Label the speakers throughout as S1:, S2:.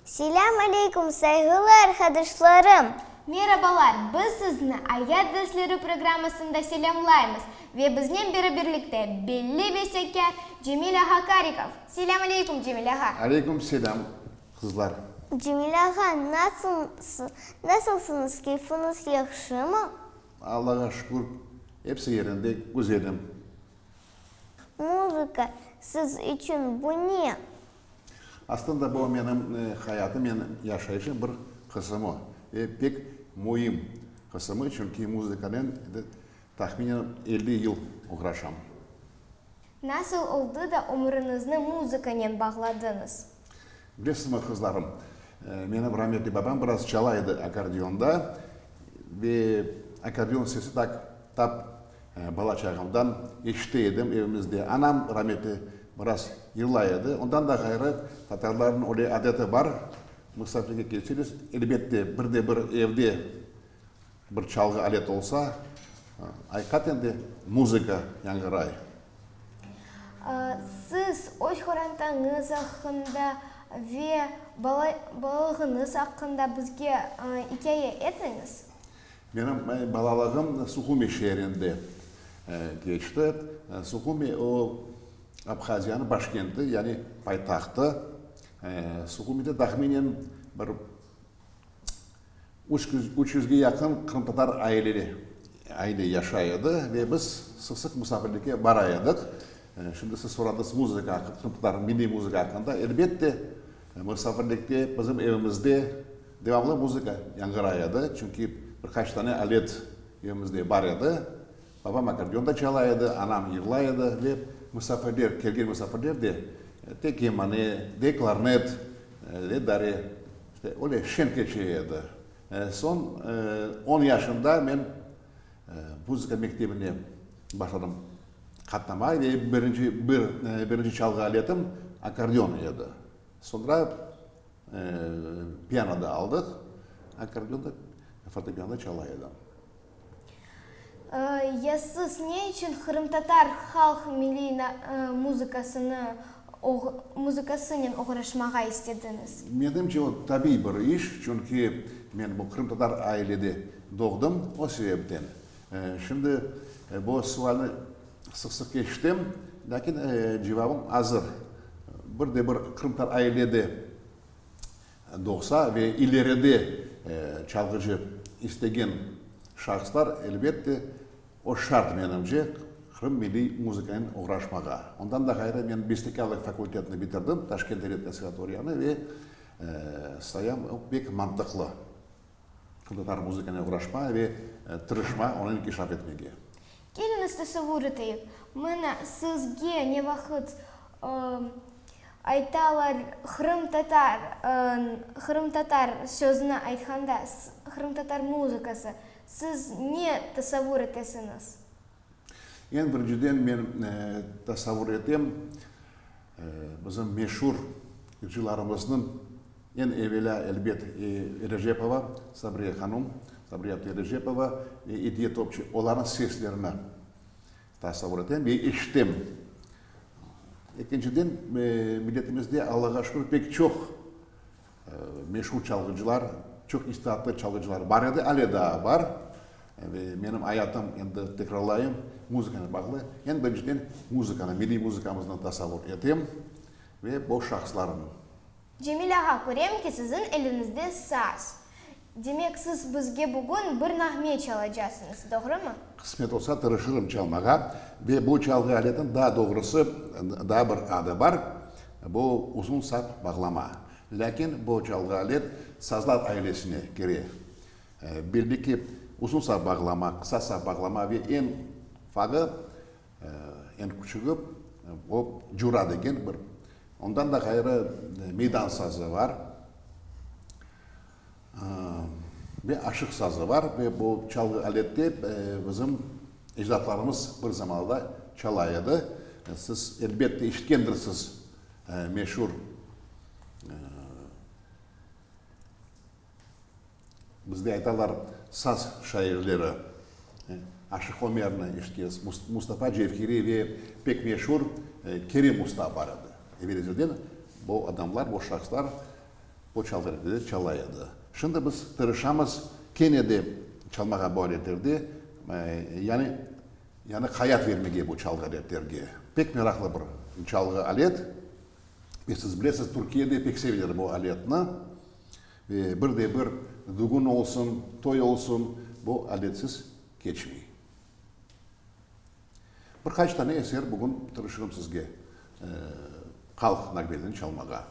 S1: Selâm aleykum, sayğılı arqadaşlarım! Merabalar!
S2: Biz sizni Ayat dersleri programmasında selâmlaymız ve biznen beraberlikte belli bestekâr Cemil ağa Karikov. Selâm aleykum, Cemil ağa! Aleykum selâm,
S3: qızlar! Cemil ağa,
S1: nasılsınız, keyfiñiz yahşımı? Allağa şükür,
S3: episi yerinde, güzelim. Muzıka
S1: siz içün bu ne? Aslında
S3: bu menim hayatım ve yaşayışım bir qısımı ve pek müim qısımı, çünki muzıkanen tahminen elli yıl oğraşam.
S2: Nasıl oldı da ömrünizni muzıkanen bağladıñız? Bilesizmi,
S3: qızlarım, menim rametli babam biraz çala edi akkordeonda ve akkordeon sesi tak tap bala çağımdan eşite edim evimizde. Anam rametli biraz yırlay edi. Ondan da ğayrı, tatarlarnıñ öyle adeti bar, musafirge kelseñiz, elbette, bir de bir evde Bir çalğı alet olsa, ayqaten de muzıka yañğıray.
S2: Siz öz qorantañız aqqında ve balalığıñız aqqında bizge ikâye etiñiz. Menim
S3: balalığım Suhumi şeerinde keçti. Suhumi, o, Abhaziyanıñ başkenti, yani paytahtı. Suhumide tahminen bir Üç yüzge yaqın qırımtatar aile yaşay edi ve biz sıq-sıq musafirlikke bara edik. Şimdi siz soradız muzıka aqqında, qırımtatar milliy muzıka aqqında. Elbette, musafirlikte bizim evimizde devamlı muzıka yañğıray edi, çünki bir qaç tane alet evimizde bar edi. Babam akkordeonda çala edi, anam yığlay edi ve musafirler, kelgen musafirler de de kemane, de klarnet, de dare, işte, öyle şen keçe edi. Soñ on yaşımda men muzıka mektebine başladım qatnamağa ve birinci, bir, birinci çalğı aletim akkordeon edi. Soñra piano da aldıq, akkordeonda, fortepianoda çala edim.
S2: Ya siz ne içün qırımtatar halq milliy muzıkasını, muzıkasınen oğraşmağa istediñiz? Menimce, o, tabiy
S3: bir iş, çünki men bu qırımtatar ailede doğdım, o sebepten. Şimdi bu sualni sıq-sıq eşitem, lâkin cevabım azır. Bir de bir qırımtatar ailede Doğsa ve ileride çalğıcı istegen şahıslar, elbette, o şart, menimce, Qırım milliy muzıkanen oğraşmağa. Ondan da ğayrı, men bestekârlıq fakultetini bitirdim, Taşkent devlet konservatoriyanı, ve sayam o, pek mantıqlı. Tatar muzıkane uğraşma ve tırışma onı inkişaf etmege. Keliñiz
S2: tesavur eteyik, mana sizge ne vaqıt aytalar qırımtatar, qırımtatar sözüni aytqanda, qırımtatar muzıkası, siz ne tesavur etesiñiz?
S3: Eñ birinciden men tasavvur etem, bizim meşur yırcılarımıznıñ, eñ evelâ, elbet, Erejepova Sabriye hanum, Sabriye abdı Erejepova ve İdiye Topçu, olarnıñ seslerini tasavvur etem ve eşitem. Ekinciden, milletimizde, Allağa şükür, pek çoq Meşur çalğıcılar, çoq istiatlı çalğıcılar bar edi, ale daa bar. Ve menim ayatım, endi tekrarlayım, muzıkanen bağlı. Eñ birinciden, muzıkanı, milliy muzıkamıznı tasavvur etem ve o şahıslarnı. Cemil
S2: ağa, körem ki, siziñ eliñizde saz. Demek, siz bizge bugün bir nağme çalacasıñız, doğrumı? Qısmet olsa, tırışırım
S3: çalmağa. Ve bu çalğı aletin, daa doğrusı, daa bir adı bar, bu, uzun sap bağlama. Lâkin bu çalğı alet sazlar ailesine kire. Belli ki, uzun sap bağlama, qısa sap bağlama ve eñ fağı, Eñ küçügi, o, cura degen bir. Ondan da ğayrı meydan sazı bar. Ve aşıq sazı bar. Ve bu çalğı alette bizim ecdadlarımız bir zamanlarda çala edi. Siz, elbette, eşitkendirsiz meşur Bizde aytalar, saz şairleri, Aşıq Ömerni, işte, Mustafa Cevheriy ve pek meşur Kerim usta bar edi. Evel ezelden bu adamlar, bu şahıslar bu çalgıaletede çala edi. Şimdi biz tırışamız kene de çalmağa bu aletlerde, yani, yani hayat vermege bu çalgıaletlerge. Pek meraqlı bir çalgıalet ve siz bilesiz, Türkiyede pek sevilir bu aletni. Ve bir de bir dügün olsun, toy olsun, bu aletsiz keçmey. Bir qaç tane eser bugün tırışırım sizge halq nağmelerini çalmağa.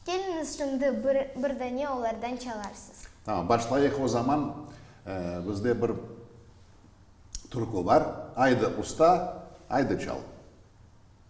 S3: Keliñiz,
S2: şimdi bir dane olardan çalarsız. Tamam, başlayıq
S3: o zaman. Bizde bir türkü bar, Aydı usta, aydı çal.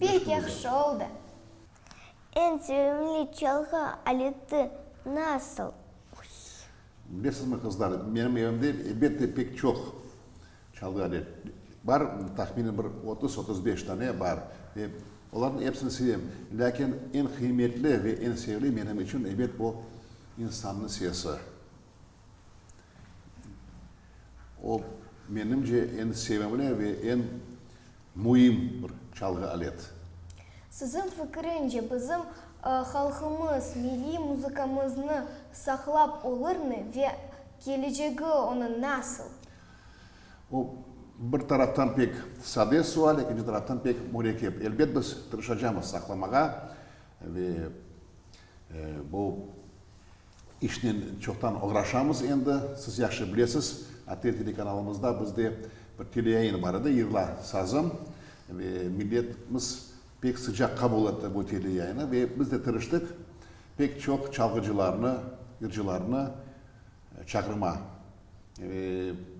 S2: Pek yahşı oldı.
S1: Eñ sevimli çalğı aleti nasıl?
S3: Bilesizmi, qızlar, menim evimde, elbette, pek çoq Çaldı ane. Bar, tahminen bir otuz, otuz beş tane bar. Ve olarnıñ epsini sevem. Lâkin eñ qıymetli ve eñ sevli menim içün, ebet, bu insannıñ sesi. O, menimce, eñ sevimli ve eñ müim bir çalğı alet. Siziñ
S2: fikiriñce, bizim halqımız milliy muzıkamıznı saqlap olırmı ve kelecegi onıñ nasıl?
S3: O, bir taraftan pek sade sual, ekinci taraftan pek mürekkep. Elbet biz tırışacamız saqlamağa ve bu işnen çoqtan oğraşamız endi. Siz yahşı bilesiz, ATR telekanalımızda bizde bir teleyayın bar edi, Yığla, sazım ve milletimiz pek sıcaq qabul etti bu teleyayını ve biz de tırıştıq pek çoq çalğıcılarnı, yırcılarnı çağırma.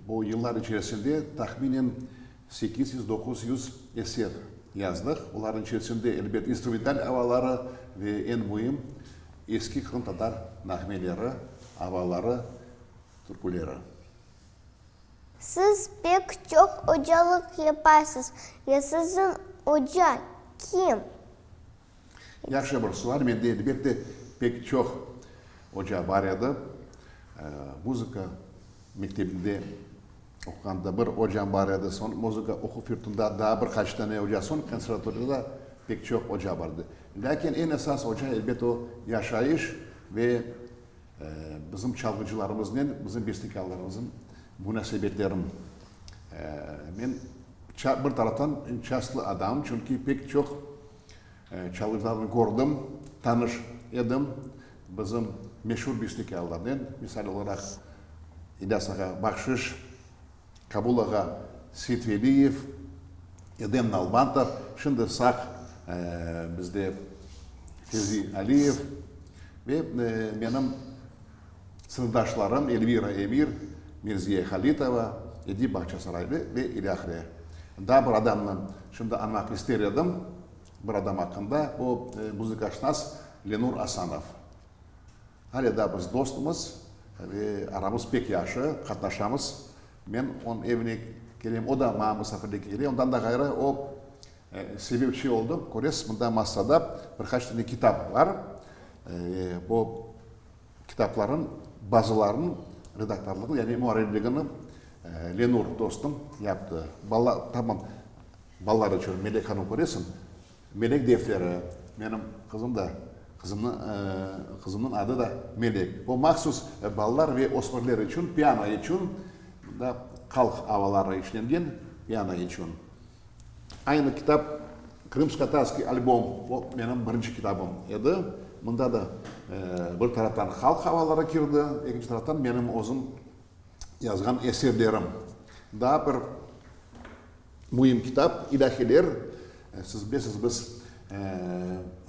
S3: Bu yıllar içerisinde tahminen sekiz yüz, doquz yüz eser yazdıq. Olarnıñ içerisinde, elbet, instrumental avaları ve eñ müim, eski qırımtatar nağmeleri, avaları, türküleri.
S1: Siz pek çoq ocalıq yapasız. Ya siziñ oca kim?
S3: Yahşı bir sual. Mende, elbette, pek çoq oca bar edi. Muzıka mektebinde oquğanda bir ocam bar edi. Soñ muzıka oquv yurtunda daa bir qaç tane oca, soñ konservatoriyada pek çoq oca bar edi. Lâkin eñ esas oca, elbet, o yaşayış ve bizim çalğıcılarımıznen bizim bestekârlarımızın munasebetlerin men Bir taraftan şanslı adam, çünki pek çoq çalğıcılarnı kördim, tanış edim, bizim meşur bestâkarlarnen, misal olaraq, İlyas ağa Bahşış, Kabul ağa Seytveliyev, Edem Nalbantov, şimdi sağ bizde Fevzi Aliyev ve menim sınıfdaşlarım Elvira Emir, Mirziye Halitova, Edip Bağçasaraylı ve ilâhre. Daa bir adamnı şimdi añmaq ister edim, bir adam aqqında, o, muzıkaşnas Lenur Asanov. Hâle daa biz dostmız ve aramız pek yahşı, qatnaşamız. Men onıñ evine kelem, o da maña musafirlikke kele. Ondan da ğayrı, o, sebepçi oldı. Köresiz, mında massada bir qaç tane kitap bar. Bu. Kitaplarnıñ bazılarınıñ redaktorlığını, yani muarrirligini Lenur dostum yaptı. Bala, tamam, balalar içün Melek hanım köresiñ, Melek defteri, menim qızım da, qızımnıñ, qızımnıñ adı da Melek. O mahsus balalar ve ösmirler içün, piano içün, qalq avaları işlengen piano içün. Aynı kitap Krımsko-Tatskiy albom, o menim birinci kitabım edi. Mında da bir taraftan halq havaları kirdi, ekinci taraftan menim özüm yazğan eserlerim. Daa bir müim kitap, ilâhiler. Siz bilesiz, biz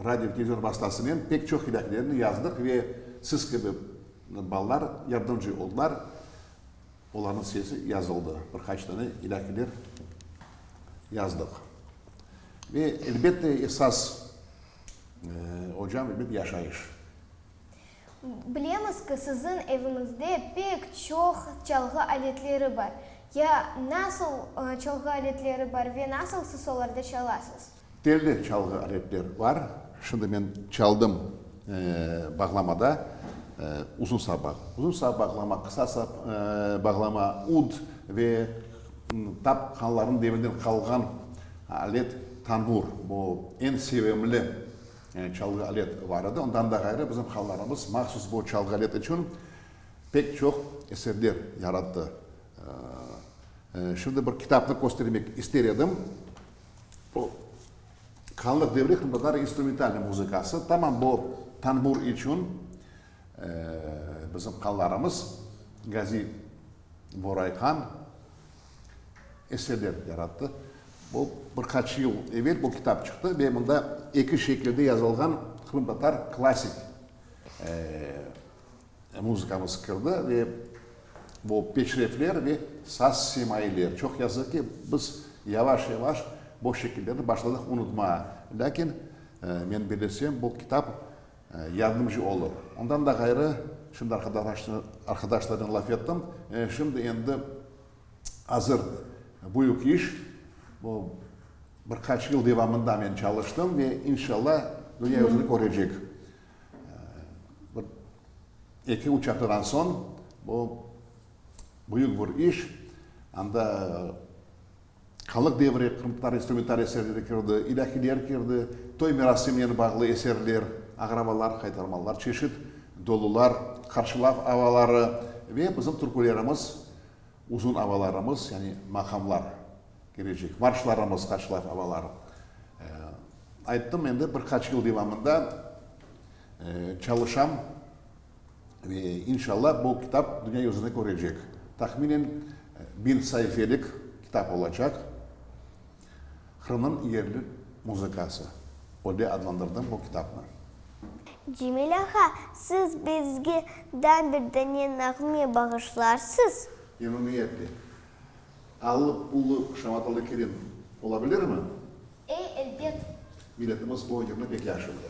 S3: radio, televizion vastasınen pek çoq ilâhilerni yazdıq ve siz kibi balalar yardımcı oldılar. Olarnıñ sesi yazıldı. Bir qaç dane ilâkiler yazdıq. Ve elbette esas ocam bir yaşayış. Bilemiz
S2: ki, siziñ eviñizde pek çoq çalğı aletleri bar. Ya nasıl çalğı aletleri bar ve nasıl siz olarda çalasız? Telli çalğı
S3: aletler bar. Şimdi men çaldım bağlamada uzun saba. Uzun saba bağlama, qısa saba bağlama, ud ve tap hanlarnıñ devrinden qalğan alet tanbur. Bu eñ sevimli çalğı alet bar edi. Ondan da ğayrı bizim hanlarımız mahsus bu çalğı alet içün pek çoq eserler yarattı. Şimdi bir kitapnı köstermek ister edim. Bu qanlı devri qırımtatar instrumentalnıy muzıkası, tamam bu tanbur içün bizim qanlarımız Gazi Borayhan eserlerini yarattı. Bu bir qaç yıl evel bu kitap çıqtı ve mında eki şekilde yazılğan qırımtatar klassik Muzıkamız kirdi ve bu peşrevler ve saz simayler. Çoq yazıq ki, biz yavaş-yavaş bu şekillerni başladıq unutmağa. Lâkin men bilesem, bu kitap yardımcı olur. Ondan da ğayrı, şimdi arqadaşlarnen laf ettim, şimdi endi azır büyük iş, bu bir qaç yıl devamında men çalıştım ve inşallah dünya yüzüni körecek. Bir eki, üç aftadan soñ bu büyük bir iş, anda Halıq devri, Qırım Tatar instrumental eserleri kirdi, ilâhiler kirdi, toy merasiminen bağlı eserler, ağravalar, haytarmalar, çeşit dolular, qarşılav avaları ve bizim türkülerimiz Uzun avalarımız, yani maqamlar kelecek. Marşlarımız qaçlar avalar. Ayttım, endi bir qaç yıl devamında çalışam ve inşallah bu kitap dünya yüzüni körecek. Tahminen bin saifelik kitap olacaq. Qırımnıñ yerli muzıkası, o de adlandırdım bu kitapnı. Cemil
S1: ağa, siz bizge daa bir dane nağme bağışlarsız? Memnuniyetle.
S3: Allı pullı şamatalı kelin olabilirmi? Ey, elbet.
S2: Milletimiz
S3: bu önemli pek yaşında.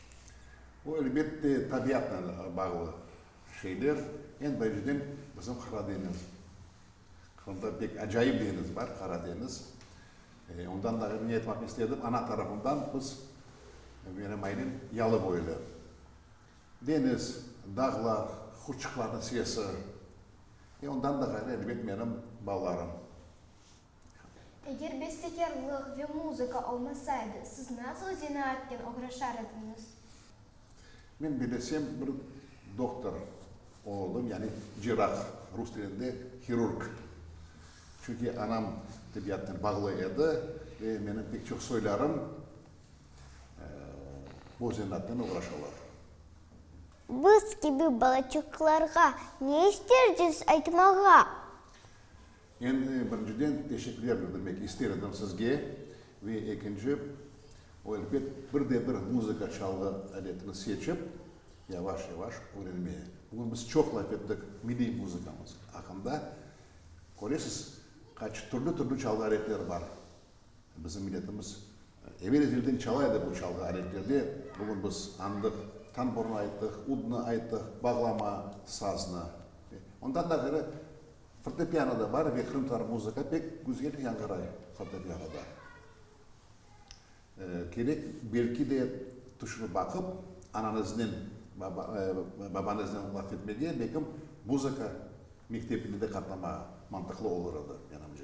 S3: Bu, elbette, tabiatnen bağlı şeyler. Eñ birinciden, bizim Qara deñiz. Qırımda pek acayip deñiz bar, Qara deñiz. Ondan da ne aytmaq istedim, ana tarafından biz, menim ailem yalıboylu. Deñiz, dağlar, qurçuqlarnıñ sesi. Ve ondan da ğayrı, elbet, menim balalarım. Eger
S2: bestekârlıq ve muzıka olmasaydı, siz nasıl zenaatnen oğraşar ediñiz?
S3: Men belesem bir doktor olurdım, yani cerrah, rus tilinde hirurg. Çünki anam tebiatnen bağlı edi ve menim pek çoq soylarım bu zenaatnen oğraşalar.
S1: Biz kibi balaçıqlarğa ne isterciz aytmağa?
S3: Endi, birinciden, teşekkürler bildirmek ister edim sizge, ve ekinci, o, elbet, bir de bir muzıka çalğı aletini seçip, yavaş-yavaş öğrenmeye. Bugün biz çoq laf ettik milliy muzıkamız aqqında. Köresiz, qaç türlü-türlü çalğı aletler bar. Bizim milletimiz evel-ezelden çala edi bu çalğı aletlerde. Bugün biz añdıq, tamburnı ayttıq, udnı ayttıq, bağlama, saznı. Ondan da ğayrı, Fortepiano da bar ve qırımtatar muzıka pek güzel yañğıray fortepianoda. Kerek, belki de, tüşünip baqıp, ananıznen, babanıznen laf etmege, belkim, muzıka mektebine de qatnamağa mantıqlı olur edi, menimce.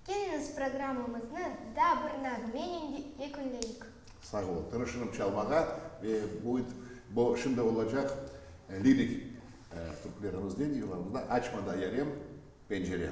S3: Keliñiz
S2: programmamıznı daa bir nağmennen yekünleyik. Sağ ol.
S3: Tırışırım çalmağa ve buyd bu şimdi olacaq lirik türkülerimizden yırlarımızdan Açma da yarem pencereni.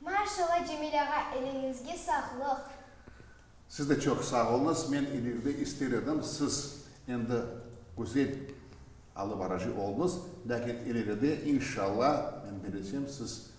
S2: Maşalla Cemil ağa, eliñizge sağlıq.
S3: Siz de çoq sağ oluñız. Men ileride ister edim, siz endi güzel alıbarıcı olunız, lâkin ileride, inşalla, men belesem, siz